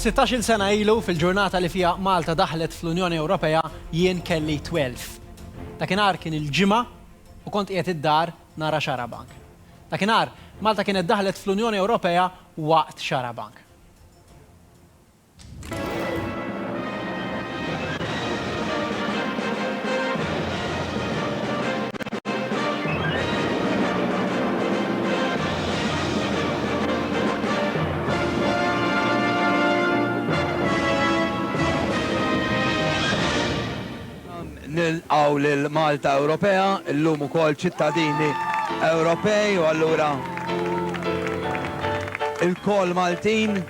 Sittax-il sena ilu, fil-ġurnata li fiha Malta daħlet fl-Unjoni Ewropea, jien kelli twelf. Dakinhar kien il-Ġimgħa u kont qiegħed id-dar nara Xarabank. Dakinhar, Malta kienet daħlet fl-Unjoni Ewropea waqt Xarabank. nilqaw lil Malta Ewropea, illum ukoll ċittadini Ewropej u allura il-kol Maltin.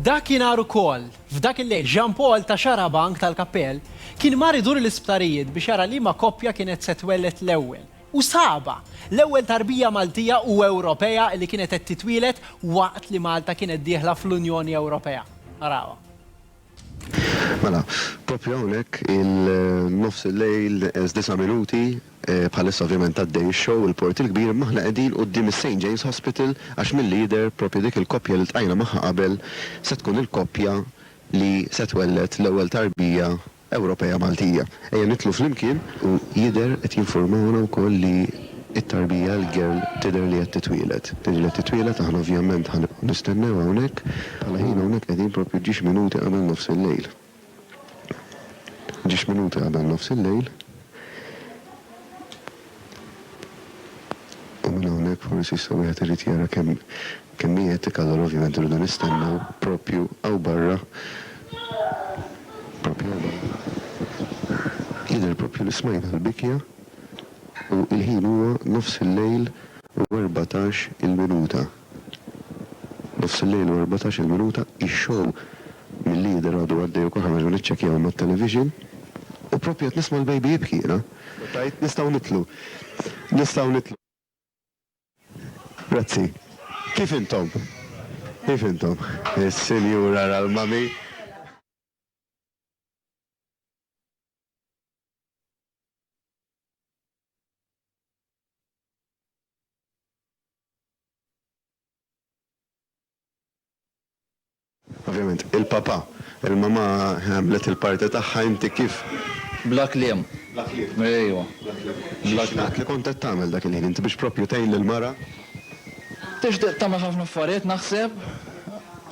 Dakinhar ukoll, f'dak il-lejl, Jean Paul ta' Xarabank tal-Kappell kien mar idur l-isptarijiet biex jara liema koppja kienet se twelled l-ewwel. U sabha! L-ewwel tarbija Maltija u Ewropea li kienet qed titwieled waqt li Malta kienet dieħla fl-Unjoni Ewropea. Arawha. Mela, proprju hawnhekk il-nofs il-lejl neqes disa' minuti, bħalissa ovvjament għaddej ix-show il-Port il-Kbir imma aħna qegħdin quddiem is-Saint James Hospital għax milli jidher proprju dik il-koppja li ltqajna magħha qabel se tkun il-koppja li se twelled l-ewwel tarbija Ewropea Maltija. Ejja nidħlu flimkien u jidher qed jinfurmawna wkoll li It-tarbija, l-girl, tidher li qed titwieled. Tidher li qed titwieled, aħna ovvjament ħa nibqgħu nistennew hawnhekk. Bħala ħin hawnhekk qegħdin proprju ġiex minuti qabel nofs il-lejl. Ġiex minuti qabel nofs il-lejl. U minn hawnhekk forsi issa wieħed irid jara kemm kemm hi etika allura ovvjament irridu nistennew proprju hawn barra proprju hawn barra. Jidher proprju li smajna l-bikja. U l-ħin huwa nofs il-lejl u erbatax il-minuta. Nofs il-lejl u erbatax il-minuta, ix-show milli jidher għadu għaddej u kol ħareġ u niċċekjaw mat-television u proprju qed nisma' l-baby jibki jiena u tajt nistgħu nidħlu, nistgħu nidħlu. Grazzi. Kif intom? Kif intom? Is-sinjura ra l-mommy. Ovvjament, il-papà, il-mamà għamlet il-parti tagħha, inti kif? Bla kliem. Bla kliem. Ejwa. Bla kliem. Bla kliem. X'ingħad li kont qed tagħmel dak il-ħin? Inti biex proprju tgħin lill-mara? Tixtieq tagħmel ħafna affarijiet naħseb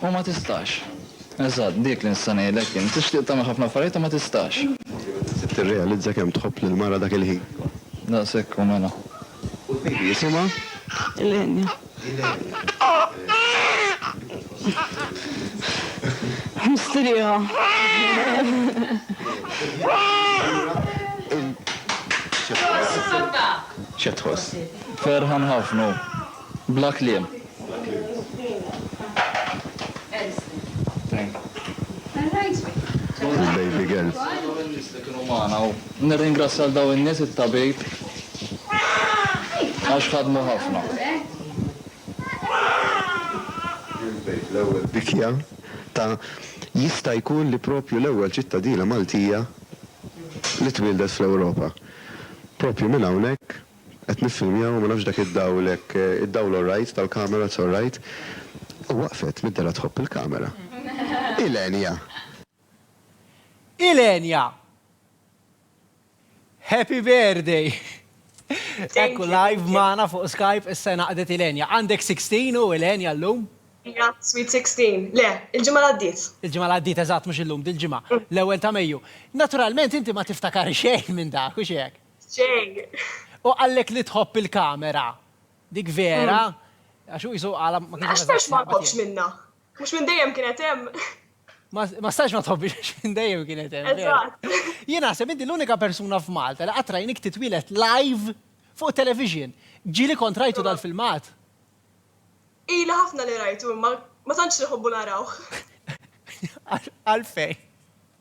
u ma tistax. Eżatt, dik li nista' ngħidlek jien. Tixtieq tagħmel ħafna affarijiet u ma tistax. Trid tirrealizza kemm tħobb lill-mara dak il-ħin. Daqshekk hu mela. U l-baby jisimha? Ilenia. Ilenia. Mistrieħa. X'qed tħoss? X'qed tħoss? Ferħan ħafna hu. Bla kliem. Nirringrazzja lil dawn in-nies, it-tabib, għax ħadmu ħafna. Bikja ta' Jista' jkun li proprju l-ewwel ċittadina Maltija li twieldet fl-Ewropa. Proprju minn hawnhekk Qed niffilmjaw, ma nafx dak id-dawl hekk, id-dawl orrajt tal-kamera it's orrajt. U waqfet mid-dela tħobb il-kamera. Ilenia! Ilenia! Happy birthday! Ekku live magħna fuq Skype is-sena qdiet Ilenia. Għandek 16 hu Ilenia llum? Iva, sweet 16. Le, il-ġimgħa li għaddiet. Il-ġimgħa li għaddiet eżatt mhux illum, dil-ġimgħa, l-ewwel ta' Mejju. Naturalment inti ma tiftakari xejn minn dak, hux hekk? Jay. U qallek li tħobb il-kamera. Dik vera. Għax hu qisu għala ma kienx. Għax stax ma tħobbx minnha. Mhux minn dejjem kienet hemm. Ma stax ma tħobbix għax minn dejjem kienet hemm. Eżatt. Jien naħseb inti l-unika persuna f'Malta li qatt rajnik titwieled live fuq television. Ġieli kont rajtu dal-filmat. Ili ħafna li rajtu imma ma tantx inħobbu narawh. Għalfejn?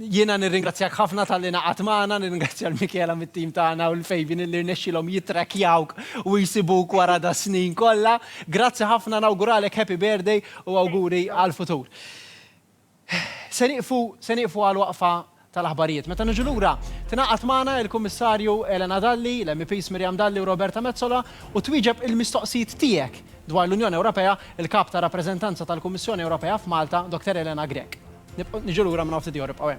Jiena nirringrazzjak ħafna talli ingħaqadt magħna, nirringrazzja 'l Michela mit-tim tagħna u 'l Fabian illi rnexxielhom jittrackjawk u jsibuk wara das-snin kollha. Grazzi ħafna, nawguralek happy birthday u awguri għall-futur. Se nieqfu, se nieqfu għal waqfa tal-aħbarijiet. Meta niġu lura, tingħaqad magħna il-Kummissarju Elena Dalli, l-MEPs Miriam Dalli u Roberta Metsola u twieġeb il-mistoqsijiet tiegħek. Dwar l-Unjoni Ewropea, il-Kap tar-Rappreżentanza tal-Kummissjoni Ewropea f'Malta, Dottor Elena Grech. Nibqgħu, niġu lura minn hawn ftit ieħor, ibqgħu hemm.